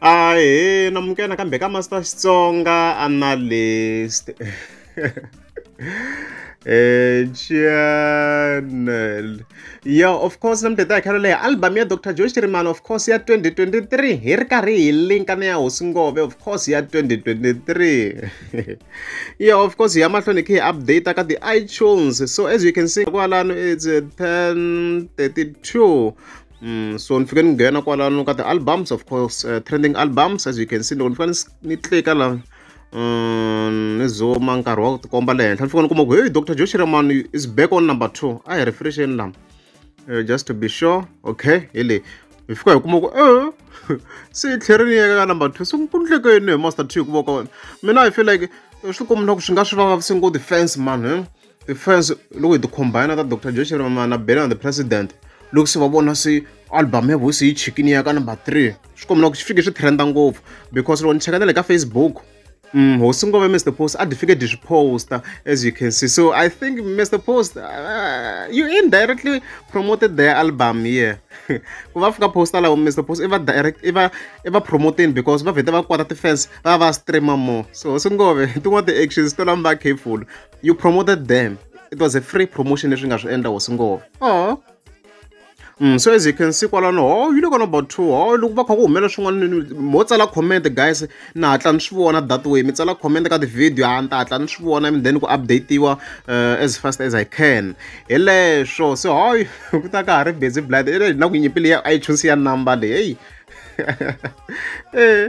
Ahee, na muka nakambe ka Master Xitsonga Analyst. Eh, channel. Yeah, of course, na mudede khalo leyi album ya Dr. Joe Chirimani of course ya 2023 hi ri karhi hi linka na ya Hosi Ngove of course ya 2023. yeah, of course, hi ya mahlweni khe hi update ka the iTunes. So as you can see kwalano it's 1032 Mm, so ni fike ni nghena kwalano ka ti-albums of course uh, trending albums as you can see loko ni fika ni tlika la um ni zoma nkarhi wa ku tikomba le henhla ni fika ni kuma ku hey dr joe shiraman is back on number two a hi refresheni lama uh, eh, just to be sure okay hi leyi hi fika hi kuma ku e eh, se yi tlheri ni yeka ka number two se ku ndleke yini hi master two hikuva ka wena mina i feel like swi kumina ku swi nga swi vavavisi ngo defense mani eh? the fans loko hi ti-combine ta dr josh ramana na bela the president loko se va vona se album ya voice yi chikini ya ka number three swi kombela ku swi fike swi trenda ngopfu because loko ni cheka na le ka facebook Mm, hosi ngove mr post a difficult swi poster as you can see so i think mr post uh, you indirectly promoted their album here ku va fika poster lawo mr post i va direct i va i va promoting because va vhete va kwata ti-fans va va streamer more so hosi ngove tin'wana ti-actions to lamba careful you promoted them it was a free promotion leswi nga swi endla hosi ngova oh Mm, so as you can see kwalano oh you look on about two oh loko va kha ku humela swin'wana mo tsala comment guys na hatla ni swi vona that way mi tsala comment ka ti-video a ni ta hatla ni swi vona and then ku updatiwa uh, as fast as i can hi leswo so hoy ku ta ka ha ri busy blood na ku nyipile ya ichoose ya number leyi heyi eh